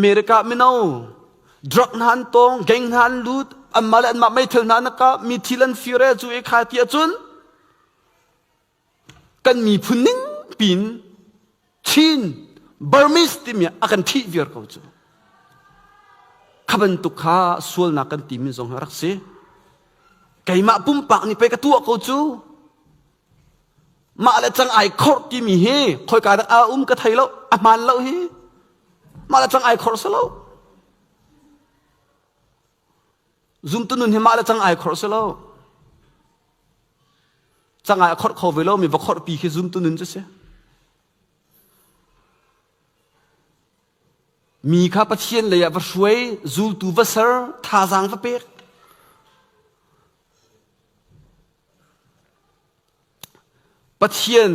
America mino drug hna an tong gang hna an lut anmah le anmah meithal hna nakka mi thil an fire cu e kha ti ahcun kan miphun ning pin Chin Burmese timi a kan thih viar ko cu kha bantuk kha sualnak kan timi zong rak si keimah pumpak nih pei ka tuah ko cu Mah le cang ai khorh timi hi khoika dah a um ka thei lo, a hmaan lo hi. Mah le cang ai khorh si lo. Zumtu nun hi mah le cang ai khorh si lo. Cang ai khorh kho ve lo mi va khorh pi khi zumtu nun cu si. Mi kha Pathian leiah va hruai, zultu va ser, thazaang va pek. Pathian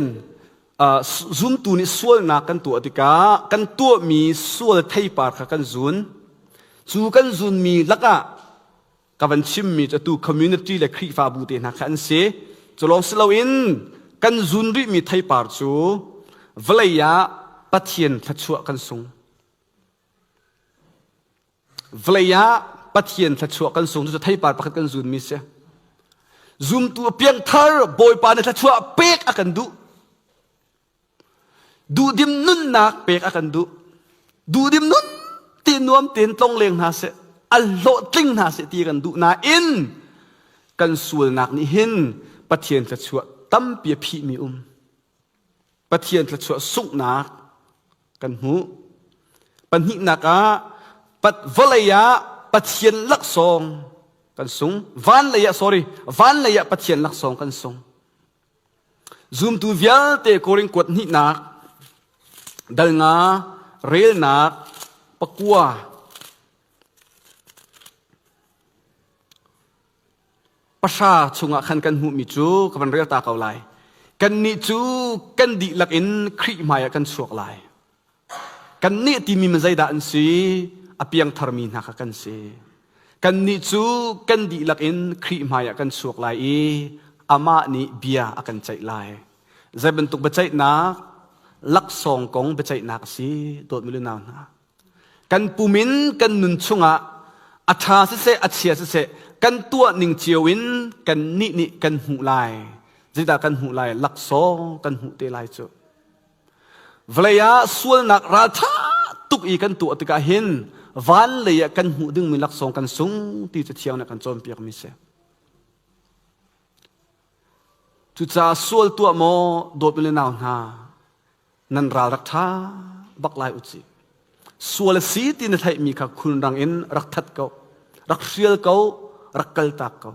zumtu nih sualnak kan tuah tikah kan tuahmi sual theipar kha kan zun. Cu kan zunmi lakah ka van chimmi cu atu community le Khrihfabu te hna kha an si culawng si loin kan zun rihmi theipar cu vawlei ah Pathian thluachuah kan sung vawlei ah Pathian thluachuah kan sung cucu theipar pakhat kan zunmi si zumtu a piangthar Bawipa nih thluachuah pek a kan duh Duhdim nunnak pek a kan duh. Duhdim nun ti nuam tein tlong leng hna seh, al hlawhtling hna seh ti kan duh nain kan sualnak nih hin Pathian thluachuah tampi a phihmi um. Pathian thluachuah sunghnak kan hmu. Pahnihnak ah pat vawlei ah Pathian laksawng kan sung. Van lei ah sorry, van lei ah Pathian laksawng kan sung. Zumtu vialte Korin kuat hnihnak, dal nga, relnak, pakua, pahra chungah khan kan hmuhmi cu ka van rel ta ko lai. Kannih cu kan dihlak in Khrih hmaiah kan chuak lai. Kannih timi mi zeidah an si? A piangtharmi hna kha kan si. Kannih cu kan dihlak in Khrih hmaiah kan suak lai i amah nih bia a kan ceih lai. Zei bantuk biaceihnak laksawng kong biaceihnak a si, dawtmi le nau hna. Kan pum in kan nun chungah a ṭha siseh, a chia siseh, kan tuah ning cio in kannih nih kan hmuh lai. Zeidah kan hmuh lai? Laksawng kan hmuh te lai cu. Vawlei ah sualnak ralṭha tuk i kan tuah tikah hin van lei ah kan hmuh dingmi laksawng kan sung ti cu thiang nih a kan cawnpiakmi a si. Cucaah sual tuah maw dawt le nau hna, nan ral rak ṭha bak lai u cih. Sual a si ti na theihmi kha khulrang in rak that ko, rak hrial ko, rak kaltak ko.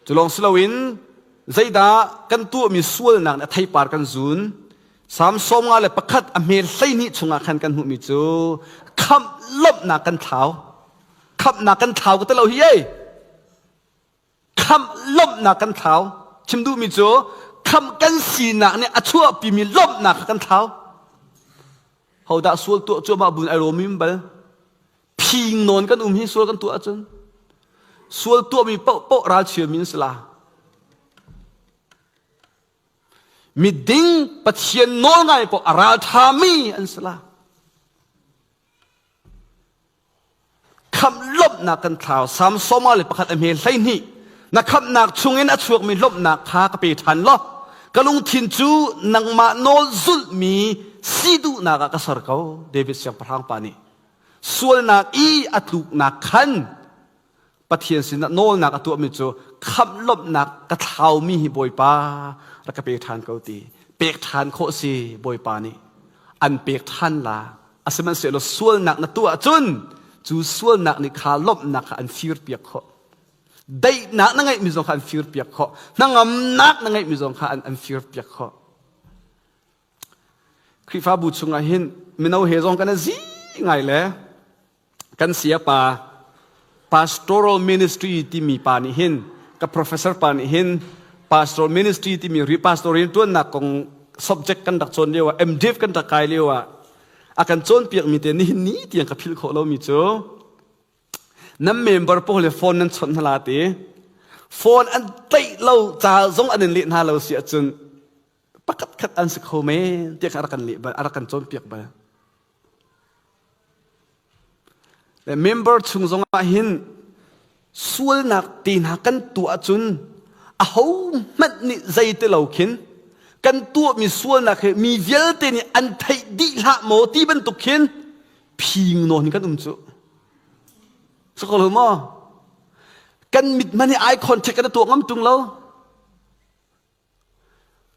Cu lawng si loin zeidah kan tuahmi sualnak nih a theipar kan zun. Psalm sawm nga le pakhat a hmel hleihnih chungah khan kan hmuhmi cu khamh lawmhnak kan thlau. Khamhnak kan thlau ka ti lo hi ei. Khamh lawmhnak kan thlau. Chim duhmi cu khamh kan sinak nih a chuahpimi lawmhnak kha kan thlau. Hodah sual tuah cuahmah buin ai rawmim bal? phing nawn kan um hi sual kan tuah ahcun sual tuahmi paoh ral chiami an si la miding pathian nawl ngai paoh a ralthami an si la khamh lawmhnak kan thlau samsoma le pakhat a hme hlei hnih na khamhnak chungin a chuakmi lawmhnak kha ka pe ṭhan law ka lungthin cu nangmah nawl zulmi si duhnak ah ka ser ko david siangpahrang pa nih sualnak i a tluknak khan Pathian sinah nawlnak a tuahmi cu khamh lawmhnak ka thlaumi hi Bawipa rak ka pe ṭhan ko ti pek ṭhan khawh si Bawipa nih an pek ṭhan la a sihmanhsehlaw sualnak na tuah ahcun cu sualnak nih kha lawmhnak kha an firpiak khawh daihnak na ngeihmi zong kha an firpiak khawh hnangamnak na ngeihmi zong kha an, an firpiak khawh Khrihfabu chungah hin mino he zong kan i zi ngai le kan siapa pastoral ministry timi pa nih hin ka professor pa nih hin pastoral ministry timi repastorial ṭuannak kong subject kan rak cawn lio ah MDiv kan rak kai lio ah a kan cawnpiakmi te nihin ni tiang ka philh khawh lomi cu nan member pawl le phone nan chawnh hna te phone an tlaih lo ca zong an in leh hna lo si ahcun pakhatkhat an si kho men tiah a rak kan, a rak kan cawnpiak bal. Member chung zong ah hin sualnak te hna kan tuah cun a ho hmanh nih zei te lo khin kan tuah mi sualnak he mi vialte nih an theih dih hlah maw ti bantuk khin phing nawn kan um cu so ko lo maw kan mit man hi eye contact kan tuah ngam tung lo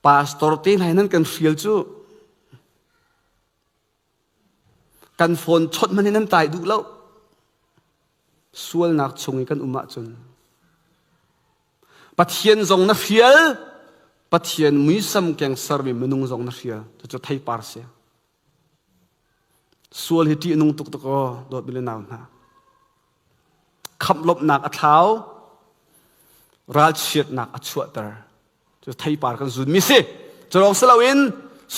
Pastor te hlai nan kan hrial cu kan phone chawt hmanh hi nan tai duh lo sualnak chung i kan um ahcun Pathian zong na hrial Pathian muisam keng sermi minung zong na hrial cucu theipar si Sual hi ṭih a nung tuk tuk aw, dawtmi le nau hna. Khamh lawmhnak a thlau, ralchiatnak a chuahter. Cu theipar kan zunmi si. Cu lawng si loin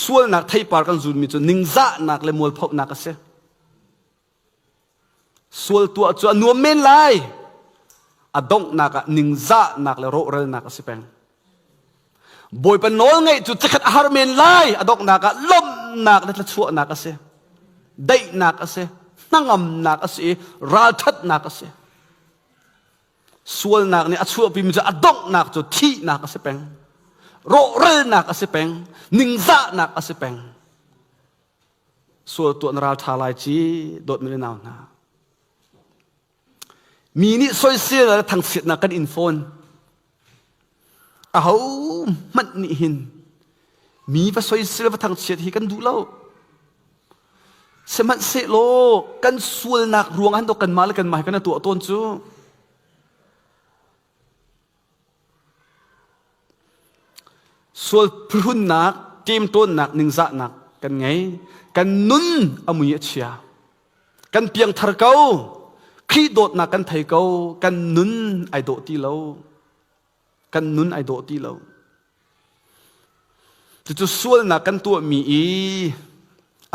sualnak theipar kan zunmi cu ningzahnak le mualphohnak a si. Sual tuah cu a nuam men lai. A donghnak ah ningzahnak le rawhralnak a si peng. Bawipa nawl ngeih cu cikhat a har men lai. A donghnak ah lawmhnak le thluachuahnak a si. Daihnak a si. Hnangamnak a si i ralthatnak a si. Sualnak nih a chuahpimi cu a donghnak cu thihnak a si peng. Rawhralnak a si peng. Ningzahnak a si peng. sual tuah na ral ṭha lai ci dawtmi le nau hna. Mi nih soisel le thangchiatnak kan in fawn. Aho hmanh nih hin mi va soisel va thangchiat hi kan duh lo. Sihmanhsehlaw kan sualnak ruangah hin doch kanmah le kanmah hi kan tuah tawn cu. Sual phuhrunnak, ṭemṭawnnak, ningzahnak kan ngei. Kan nun a mui a chia. Kan piangthar ko. Khrih dawtnak kan thei ko. Kan nun ai dawh ti lo. Kan nun ai dawh ti lo. Cucu sualnak kan tuahmi i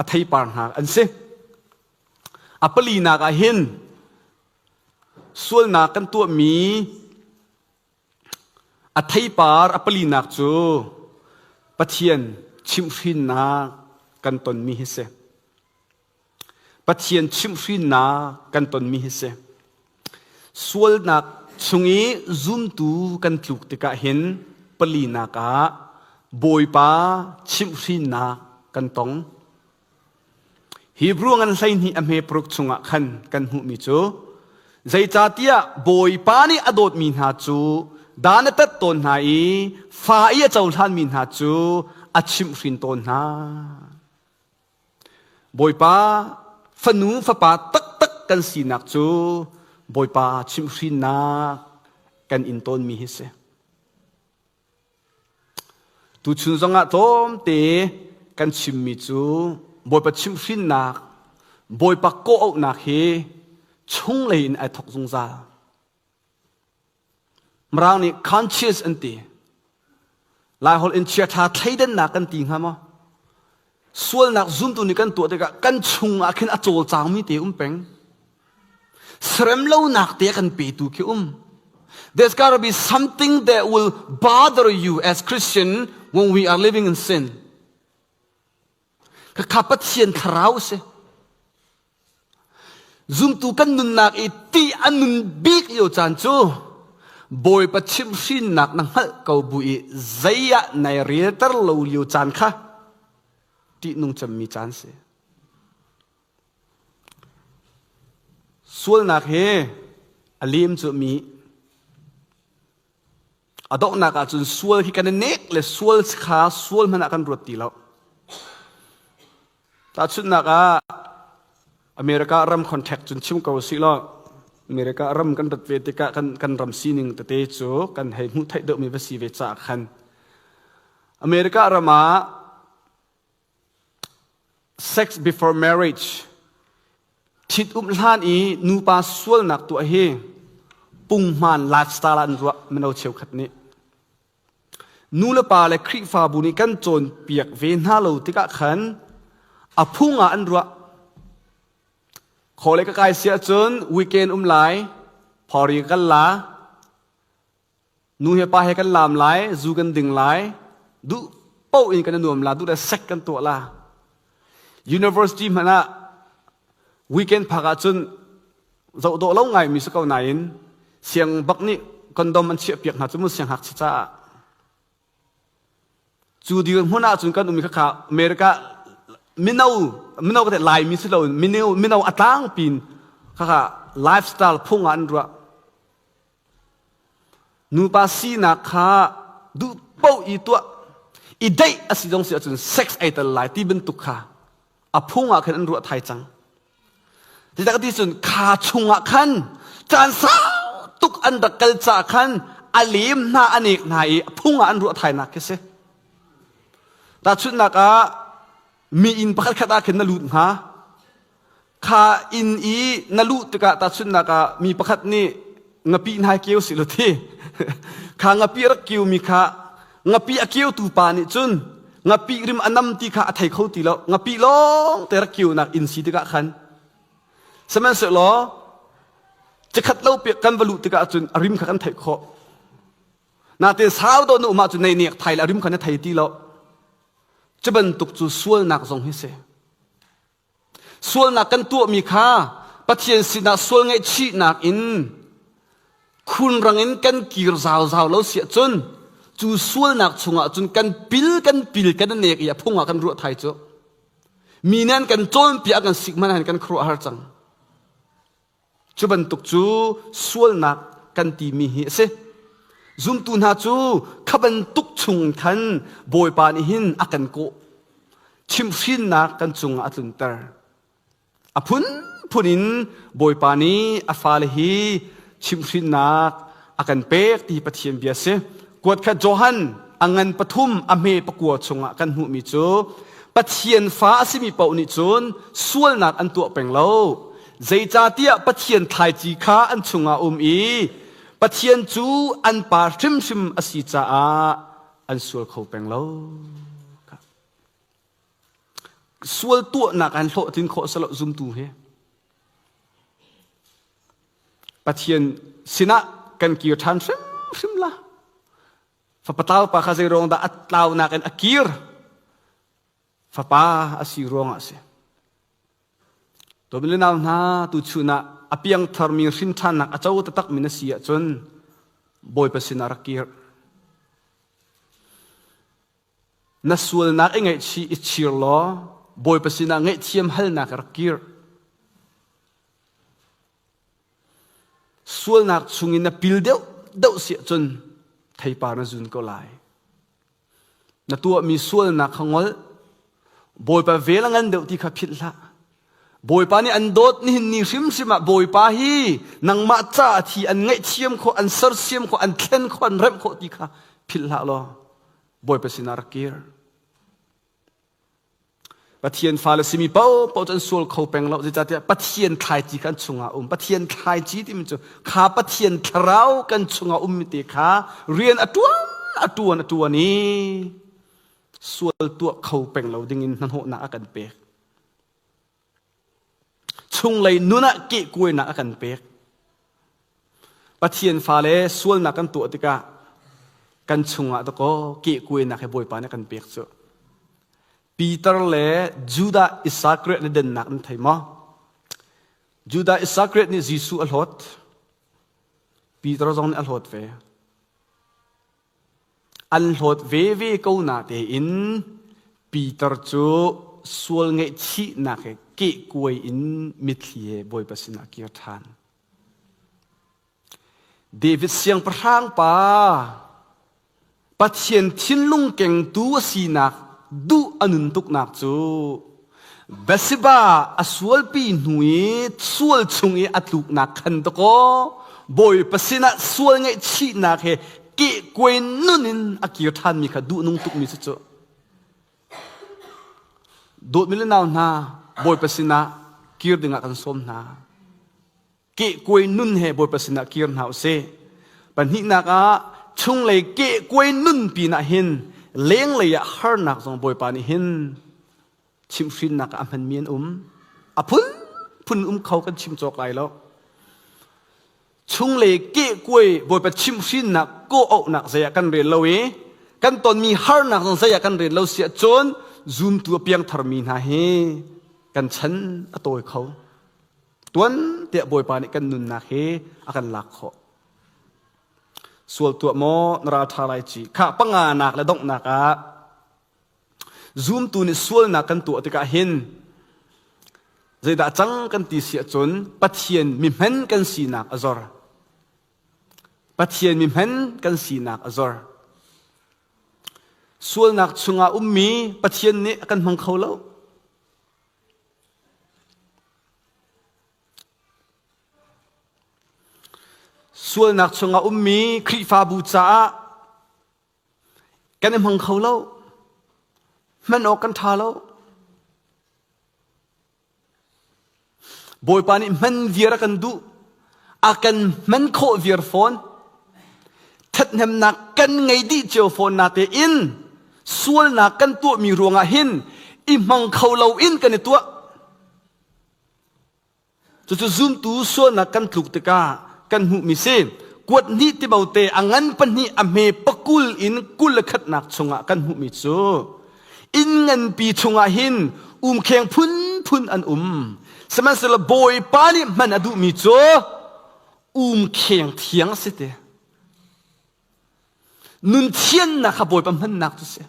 a theipar hnak an si. A palinak ah hin sualnak kan tuahmi a theipar a palinak cu Pathian chimhhrinnak kan tonmi hi si. Pathian chimhhrinnak kan tonmi hi si. Sualnak chung i zumtu kan tluk tikah hin palinak ah Bawipa chimhhrinnak kan tong. Hebrew ngan hleihnih a hme paruk chungah khan kan hmuhmi cu zeicahtiah Bawipa nih a dawtmi hna cu da na tat tawn hna i fa i a cohlanmi hna cu a chimhhrin tawn hna. Bawipa fanu fapa taktak kan sinak cu Bawipa chimhhrinnak kan in tawnmi hi si. Tuchun zongah tlawmte kan chimmi cu Bawipa chimhhrinnak, Bawipa kawh hi chunglei in ai thawk zungzal. Mirang nih conscious an ti. Laiholh in chiaṭha thleidannak kan ti hnga maw? sualnak zuntu nih kan tuah tikah kan chungah khin a cawlcangmi te um peng seremlonak te kan petu khi um there's got to be something that will bother you as Christian when we are living in sin khakha pathian thlarau si Zumtu kan nunnak i ttih an nun bik lio caan cu Bawipa chimhhrinnak na hngalh ko bu i zei ah nai relter lo lio caan kha ṭihnung cemmi caan si. Sualnak he a lem cu mi A donghnak ahcun sual hi kan i nek le sual kha sual hmanh ah kan ruat ti lo. Tahchunhnak ah, America ram contact cun chim ko sih law, America ram kan rat ve tikah kan, kan ram sining tete cu kan hei hmuh theih deuhmi va si ve caah khan America ram ah Sex before marriage ṭhitum hlan i nupa sualnak tuah hi pungman lifestyle ah an ruah mino cheukhat nih nu le pa le Khrihfabu nih kan cawnpiak ve hna lo tikah khan a phung ah an ruah khawle ka kai si ahcun weekend um lai phori ka kal la Nu hi pa he kan laam lai, zu kan ding lai, duh paoh in kan i nuam la, duh le sek kan tuah la. University hmanh ah weekend phak ahcun zoh dawh lo ngaimi si ko nain siangbak nih kondom an chiahpiak hna cu mun sianghngakchia caah. Cu dirhmun ahcun kan um i khakha America mino mino ka Laimi si loin mino mino a tlangpi in khakha lifestyle phung ah an ruah. Nupa sinak kha duh paoh i tuah i deih a si zong si ahcun sex ei tel lai ti bantuk kha a phung ah khan an ruah thai cang. Hi tak ti cun kha chungah khan caan sau tuk an rak kal caah khan a lem hna a nek hna i a phung ah an ruah thainak khi si. Tahchunhnak ah, mi inn pakhat khat ah khin na lut hnga. Kha inn i na luh tikah tahchunhnak ah mi pakhat nih ngapi hnai keu si lu ti. kha ngapi a rak keumi kha ngapi a keutu pa nih cun ngapi rim a nam ti kha a thei kho ti lo. Ngapi lawng te rak keunak inn si tikah khan. Sihmanhsehlaw cikhat lo pek kan va luh tikah cun a rim kha kan theih khawh. Natin sau do na um ah cun nei nek thai a rim kha na thei ti lo. Cu bantuk cu sualnak zong hi si. Sualnak kan tuahmi kha Pathian sinah sual ngaihchihnak in khunrang in kan kir zauzau lo si ahcun cu sualnak chungah cun kan pil kan pil kan nek i a phung ah kan ruah thai cu. Mi nih an kan cawnpiak kan sik hmanah hin kan khuaruahhar cang. Cu bantuk cu sualnak kan timi hi a si. Zumtu hna cu kha bantuk chung khan Bawipa nih hin a kan kawh. Chimhrinnak kan cungah a tlunter. A phunphun in Bawipa nih a fale hi chimhrinnak a kan pek ti Pathian bia a si. Kuat khat Johan a ngan pathum a hme pakua chungah kan hmuhmi cu Pathian fa a simi paoh nih cun sualnak an tuah peng lo. Zeicahtiah Pathian thlaici kha an chungah um i Pathian cu an pa hrimhrim a si caah an sual kho peng lo. Sual tuahnak an hlawhtlin khawh a si lo zumtu he. Pathian sinah kan kir ṭhan hrimhrim la. Fapatau pa kha zeiruang dah a tlaunak in a kir? Fapa a si ruangah a si. Tumin le nau hna, tuchun ah a piangtharmi hrinṭhannak a co taktakmi na si ahcun Bawipa sinah rak kir. Na sualnak i ngaihchih i chir law Bawipa sinah ngaihthiam halnak i rak kir. Sualnak chungin na pil deuh deuh si ahcun theipa na zun ko lai. Na tuahmi sualnak kha ngol. Bawipa vel a ngan deuh ti kha philh hlah. Bawipa nih an dawt nihin ni hrimhrim ah Bawipa hi nangmah ca a thi an ngaihthiam khawh an sersiam khawh an thlen khawh an remh khawh ti kha philhhlah law Bawipa sinah rak kir Pathian fale simi paohpaoh cu an sual kho peng lo zeicahtiah Pathian thlaici kha an chungah um Pathian thlaici timi cu kha Pathian thlarau kan chungah ummi te kha rian a ṭuan a ṭuan a ṭuan i sual tuah kho peng lo dingin hnahnawhnak a kan pek Chunglei nun ah kehkuainak a kan pek. Pathian fale sualnak kan tuah tikah kan chungah dakaw kehkuainak he Bawipa nih a kan pek cu. Peter le Judah Isakariah na dennak nan thei maw? Judah Isakariah nih Jesuh a hlawt. Peter zong nih a hlawt ve. An hlawt veve ko na tein Peter cu sual ngaihchihnak he kehkuai in mitthli he Bawipa sinah a kir ṭhan. David siangpahrang pa, Pathian thinlung kengtu a sinak duh a nun tuknak cu Bathsheba a sualpi hnu i sual chung i a tluknak khan dakaw Bawipa sinah sual ngaihchihnak he kehkuai nun in a kir ṭhanmi kha duhnung tukmi si cu. Dawtmi le nau hna, Bawipa sinah kir dingah kan sawm hna. kehkuai nun he Bawipa sinah kir hna u sih. Pahnihnak ah chunglei kehkuai nun pinah hin lenglei ah harnak zong Bawipa nih hin chimhhrinnak ah a hmanmi an um. A phunphun um kho kan chim cawk lai lo. Chunglei kehkuai Bawipa chimhhrinnak kawh-auhnak zei ah kan rel lo i kan tonmi harnak zong zei ah kan rel lo siah cun zumtu a piangtharmi hna hi kan chan a tawi kho. tuan tiah Bawipa nih kan nunnak hi a kan lak khawh. Sual tuah maw na ra ṭha lai ci. Kha panganak le donghnak ah zumtu nih sualnak kan tuah tikah hin zeidah cang kan ti si ahcun Pathian mihman kan sinak a zor. Pathian mihman kan sinak a zor. Sualnak chungah ummi Pathian nih a kan hmang kho lo. Sualnak chung a ummi Khrihfabu caah kan i hmang kho lo. Hman awk kan ṭha lo. Bawipa nih hman viar a kan duh. a kan hman khawh viar fawn ṭhathnemnak kan ngei dih cio fawn nate in sualnak kan tuahmi ruangah hin i hmang kho loin kan i tuah cucu zumtu sualnak kan tluk tikah kan hmuhmi si kuat hnih tibote a ngan pahnih a hme pakul in kul le khatnak chungah kan hmuhmi cu inn nganpi chungah hin umkheng phunphun an um sihmanhsehlaw bawipa nih hman a duhmi cu umkheng thiang a si ti nun thiannak kha bawipa hmannak cu si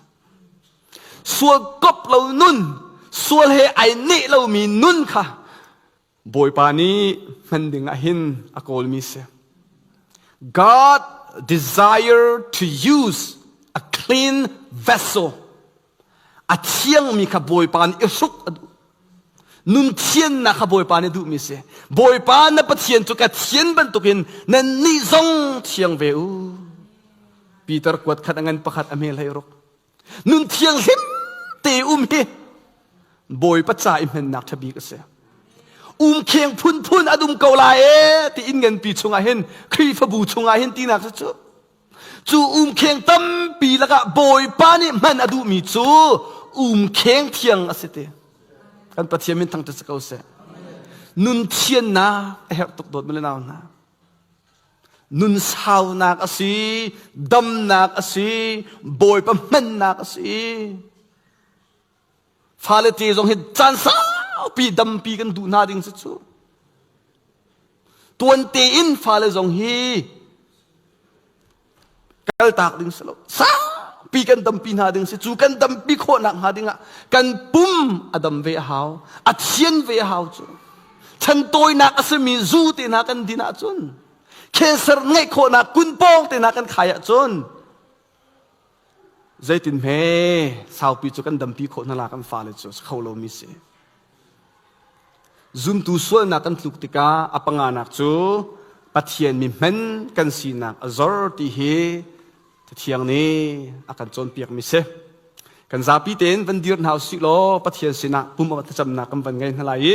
sual kop lo nun sual he ai neh lomi nun kha Bawipa nih hman dingah hin a kawlmi si. God desire to use a clean vessel. A thiangmi kha Bawipa nih i hruk a duh. Nun thiannak kha Bawipa nih duhmi si. Bawipa na Pathian cu ka thian bantukin nannih zong thiang ve u. Peter kuat khat a ngan pakhat a hmelhei ruk. nun thianghlim te um hi bawipa ca i hmennak ṭha bik a si umkheng phunphun an um ko lai e tiin nganpi chungah hin khrihfabu chungah hin tinak cu cu umkheng tampi lakah bawipa nih hman a duhmi cu umkheng thiang a si ti kan pathian min thang te si ko seh nun thiannak a herh tuk dawt male nau hna nun saunak a si damnak a si bawipa hmannak a si fale te zong hi caan saupi dampi kan duh hna ding si cu tuan tein fale zong hi kaltak ding si lo sakpi kan dampi hna ding si cu kan dampi khawhnak hnga dingah kan pum a dam ve a hau a thian ve a hau cu chan tawinak a simi zu te na kan din ahcun cancer ngeih khawhnak kun pawng te na kan khai ahcun Zeitin hme saupi cu kan dampi khawh hna la kan fale cu a si kho lomi si. Zumtu sualnak kan tluk tikah a panganak cu Pathian mi hmen kan sinak a zor ti hi Cathiang nih a kan cawnpiakmi si. Kan zapi tein van dir hna usih law Pathian sinah pum a thlacamnak kan van ngei hna lai i